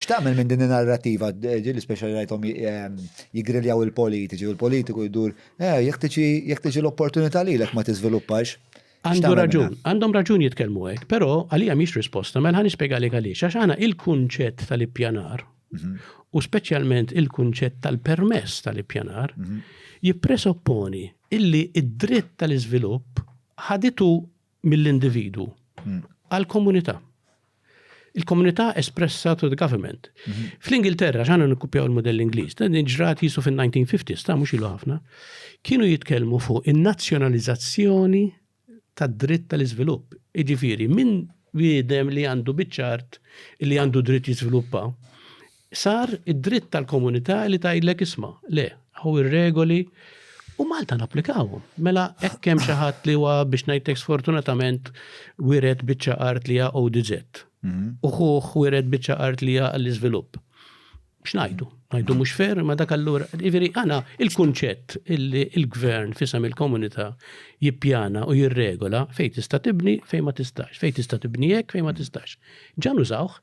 X'tagħmel minn din in-narrattiva, ġieli speċjali rajthom jiggriljaw il-politiċi u l-politiku jdur, eh, jekk tiġi jekk tiġi l-opportunità lilek ma tiżviluppax. Għandu raġun, għandhom raġun jitkellmu hekk, però għalija mhix risposta, mela nispjegalek għaliex għax għana il-kunċett tal-ippjanar mhm. u speċjalment il-kunċett tal-permess tal-ippjanar mhm. jippresopponi illi id-dritt tal-iżvilupp ħaditu mill-individwu għall-komunità. Il-komunità espressa to the government. Mhm. Fl-Ingilterra, ġana nikkupjaw il-modell Ingliż, dan ġrat jisu fin-1950s, ta' mhux ilu ħafna, kienu jitkellmu fuq in-nazzjonalizzazzjoni tad-dritt tal-iżvilupp. Iġifieri, minn bidem li għandu biċċart li għandu dritt jiżviluppa, Sar id-dritt tal-Komunità li tgħidlek isma', le, hawn ir-regoli u Malta napplikawhom. Mela hekk hemm xi ħadd li huwa biex ngħidlek sfortunatament wiret biċċa art li hija ODZ. Mhm. U ħuh wiret biċċa art li hija għall-iżvilupp. X'ngħidu? Ngħidu mhux fer ma dak allura. Jiġifieri għana il-kunċett illi l-gvern fisem il-komunità jippjana u jirregola fejn tista' tibni fejn ma tistax, fejn tista' tibni hekk fejn ma tistax. Ġan użawh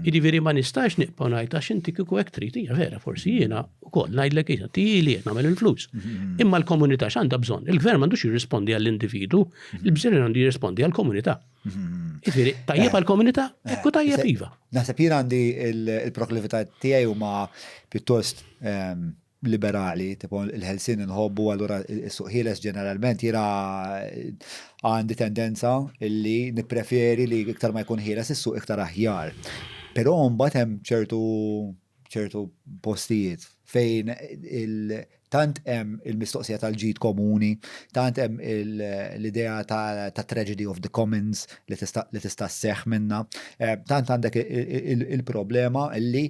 Jiġifieri ma nistax nibqa' ngħid għax inti kieku hekk trid hija vera forsi jiena wkoll ngħidlek hija tieli qed nagħmel il-flus. Mhm. Imma l-komunità x'għandha bżonn? Il-gvern m'għandux jirrispondi għall-individu, mhm. il-bżonn għandu jirrispondi għall-komunità. Mhm. Jiġifieri tajjeb eh. għall-komunità, eh. ekku tajjeb eh. iva. Naħseb jien għandi il-proklività tiegħi huma pjuttost ehm, liberali, tipo il-ħelsien inħobbu allura s-suq ħieles ġeneralment jiena għandi tendenza li nippreferi li iktar ma jkun ħieles is-suq iktar aħjar. Però mbagħad hemm ċertu ċertu postijiet fejn tant hemm il-mistoqsija tal-ġid komuni, tant hemm l-idea ta' tragedy of the commons li tista' sseħħ minnha, tant għandek il-problema li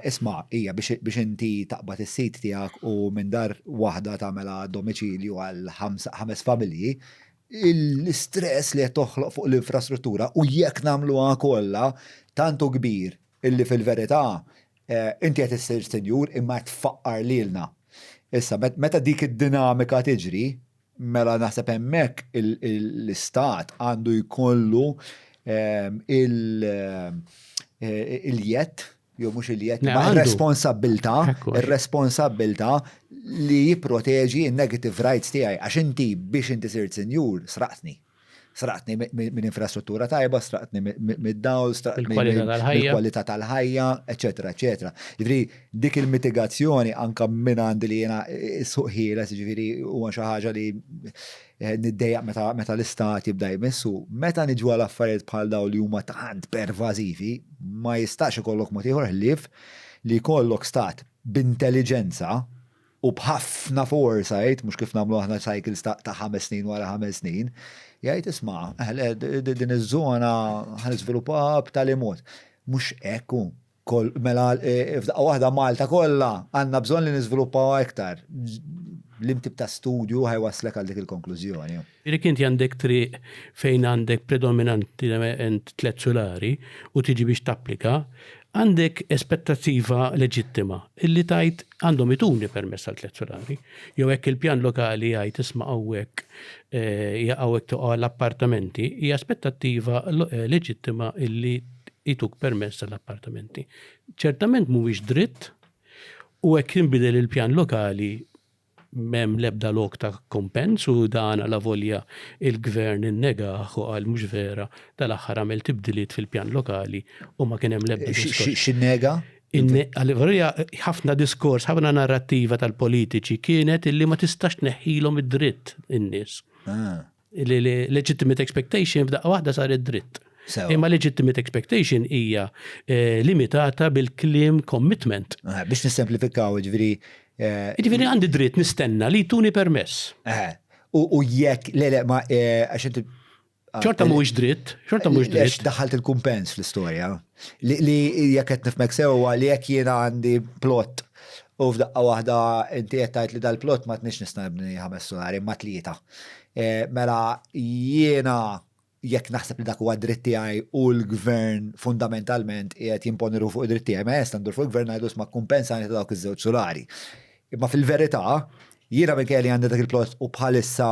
Isma', hija biex inti taqbad is-sid tiegħek u minn dar waħda tagħmilha domiċilju għal ħames familji, l-istress li qed toħloq fuq l-infrastruttura u jekk nagħmluha kollha tant hu kbir illi fil-verità inti qed issir sinjur imma qed tfaqqar lilna. Issa, meta dik id-dinamika tiġri, Mela naħseb hemmhekk l-istat għandu jkollu ehm, eh, il-jett jew mhux il-jett ma' responsabilità, ir-responsabilità li jipproteġi n-negative rights tiegħi għax inti biex inti sirt sinjur sraqtni. Sraqtni minn infrastruttura tajba, sraqtni mid-dawl, sraqtni mill-kwalità tal-ħajja, eċetera, eċetera. Ġifieri dik il-mitigazzjoni anke minn għandi li jiena suq ħieles, ġifieri huwa xi ħaġa li eh, niddejjaq meta l-istat jibda jmissu, meta niġu għal affarijiet bħal dawn li huma tant pervażivi, ma jistax ikollok mod ieħor ħlief li jkollok stat b'intelliġenza u b'ħafna foresight, mhux kif nagħmlu aħna cycles ta' ħames snin wara ħames snin, jgħid isma' din iż-żona ħaniżviluppa b'tali mod. Mhux hekk hu. Mela e, e, f'daqqa waħda Malta kollha għandna bżonn li niżviluppaw iktar. L-imtib ta' studju ħajwaslek għal dik il-konklużjoni. Jekk inti għandek triq fejn għandek predominantement tliet sulari u tiġi biex tapplika, għandek aspettattiva leġittima illi tgħid għandhom ituni permess għal tliet sulari. Jew hekk il-pjan lokali jgħid isma' hawnhekk eh, hawnhekk toqgħu għall-appartamenti, hija aspettattiva eh, leġittima illi jtuk permess għall-appartamenti. Ċertament mhuwiex dritt u hekk jinbidel il-pjan lokali M'hemm l-ebda lok ta' kumpens u dan alavolja l-Gvern innegah u qal mhux vera, tal-aħħar għamel tibdiliet fil-pjan lokali u ma kien hemm l-ebda diskors. X'innega? Alavolja ħafna diskors, ħafna narrattiva tal-politiċi kienet illi ma tistax tneħħilhom id-dritt in-nies. Li legitimate expectation f'daqqa waħda saret dritt. Imma legitimate expectation hija eh, limitata bil-klim commitment. Eh, biex nissemplifikaw, ġviri. Eh, ġviri għandi dritt nistenna li tuni permess. U jekk, le, le, ma, għaxet. Ah, ċorta mhuwiex dritt, ċorta mhuwiex dritt. Għax daħalt il-kumpens fl-istorja. Li jekk qed nifmek sewwa li jekk jiena għandi plot U f'daqqa waħda inti qed tgħid li dal-plot ma tniex nista' nibni ħames solari imma tlieta. Eh, mela jiena jekk naħseb li dak huwa dritt tiegħi u l-gvern fundamentalment qiegħed jimponi ruħu fuq id-dritt tiegħi, ma jesta ndur fuq il-gvern ngħidu sma kumpensa ta' dawk iż-żewġ sulari. Imma fil-verità, jiena minn kelli għandi dak il-plot u bħalissa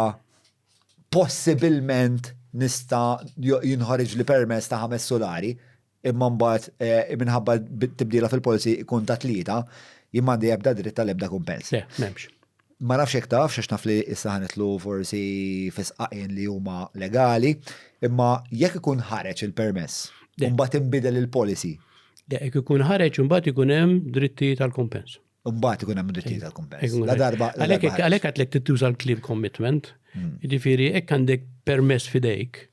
possibilment nista jinħoriġ li permess ta' ħames sulari, imma mbagħad minħabba tibdila fil-policy ikun ta' tlieta, jien m'għandi ebda dritt għal ebda kumpens. Le, m'hemmx. Ma nafx jekk taf, għax naf li issa ħa nidħlu forsi fi sqaqien li huma legali, imma jekk ikun ħareġ il-permess, imbagħad inbidel il-policy. Le, jekk ikun ħareġ imbagħad ikun hemm drittijiet għal kumpens. Imbagħad ikun hemm drittijiet għal kumpens. La darba. Għalhekk għadlek tittuża l-kliem commitment, jiġifieri jekk għandek permess f'idejk,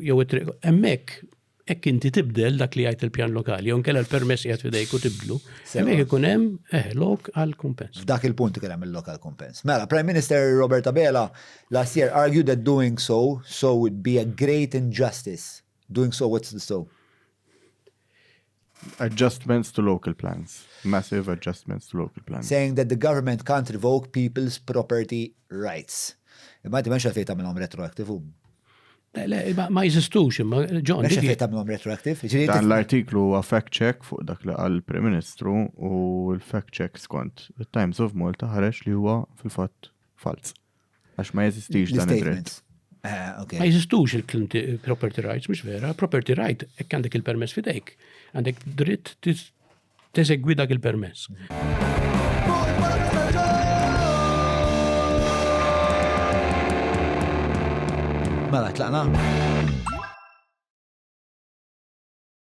jew hemmhekk hekk inti tibdel dak li jgħid il-pjan lokali, jew nkella l-permess qiegħed f'idejk u tibdlu, hemmhekk ikun hemm eh, lok għal kumpens. F'dak il-punt ikun hemm il-lok għal kumpens. Mela, Prime Minister Robert Abela last year argued that doing so so would be a great injustice. Doing so what's the so? Adjustments to local plans. Massive adjustments to local plans. Saying that the government can't revoke people's property rights. Imma għaddi menx għalfej tamilom retroactive u. Ma jizistux, imma ġon. Menx għalfej tamilom retroactive. Dan l-artiklu huwa fact check fuq dak li għal prim Ministru u l-fact check skont il-Times of Malta ħareġ li huwa fil-fatt falz. Għax ma jeżistix dan id-dritt. Ah, ma jeżistux il-property rights, mhux vera. Property right, hekk għandek il-permess fidejk, għandek dritt teżegwi dak il-permess. Mela, tlaqna?